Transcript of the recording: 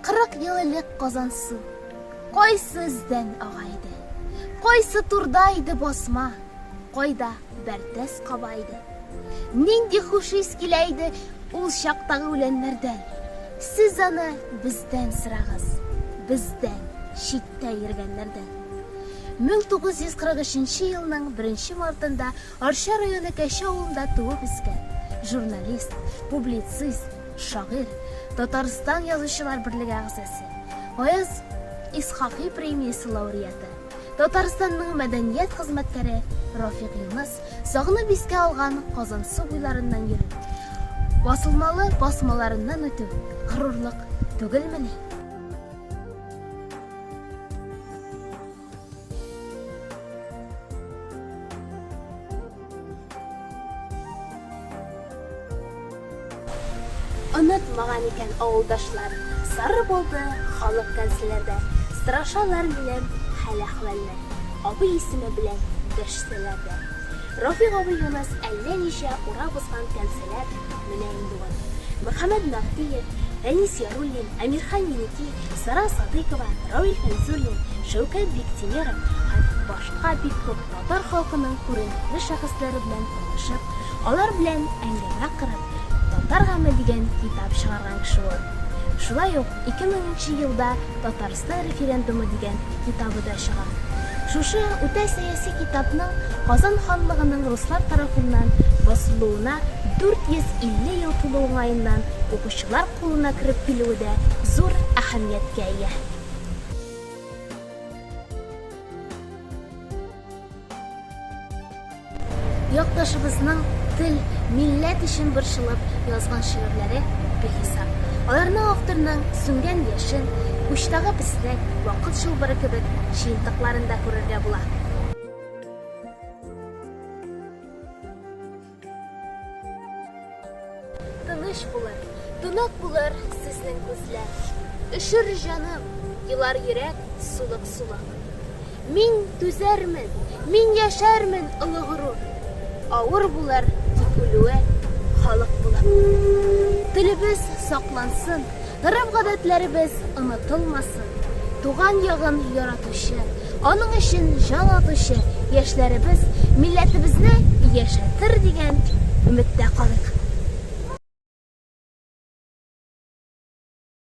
Кырык ел элек Казансу кайсы эздән ага иде? Кайсы турда иде басма? Кайда бәртәс каба иде? Нинди хуш ис килә иде ул чактагы үләннәрдән? Сез аны бездән сырагыз, бездән, читтә йөргәннәрдән. 1943 елның 1 мартында Арча районы Кәче авылында туып үскән, журналист, публицист, шагыйрь, Татарстан Язучылар берлеге әгъзасы, Гаяз Исхакый премиясе лауреаты, Татарстанның мәдәният хезмәткәре Рафик Юныс сагынып искә алган Казансу буйларыннан йөрү, басылмалы басмаларыннан үтү горурлык түгелмени? Онытмаган икән авылдашлар, Сары булды халык кәнселәрдә. Сорашалар минем хәл-әхвәлне, Абый исеме белән дәшсәләр дә. Рафик абый Юныс әллә ничә Урап узган кәнселәр Менә инде ул. Мөхәммәд Мәгъдиев, Фәнис Яруллин, Әмирхан Еники, Сара Садыйкова, Равил Фәйзуллин, Шәүкәт Биктимеров һәм башка бик күп татар халкының күренекле шәхесләре белән танышып, алар белән әңгәмә корып, Татар гаме дигән китап чыгарган кеше ул. Шулай ук 2000 нче елда Татарстан Татарстан референдумы дигән китабы да чыга. Шушы үтә сәяси китапның Казан ханлыгының руслар тарафыннан басылуына 450 ел тулу уңаеннан укучылар кулына кереп килүе дә зур әһәмияткә ия. Якташыбызның тел, милләт өчен борчылып язган шигырьләре бихисап. Аларның авторның сүнгән яшен, учтагы песнәк, вакыт чылбыры кебек җыентыкларын да күрергә була. Тыныч булыр, тунак булыр сезнең күзләр. Өшер җаным, елар йөрәк сулык-сулак. Мин түзәрмен, мин яшәрмен олы горур. Авыр булыр тик үлүе халык булып. Телебез саклансын, Гореф-гадәтләребез онытылмасын. Туган ягын яратучы, аның өчен җан атучы яшьләребез милләтебезне яшәтер дигән өметтә калыйк.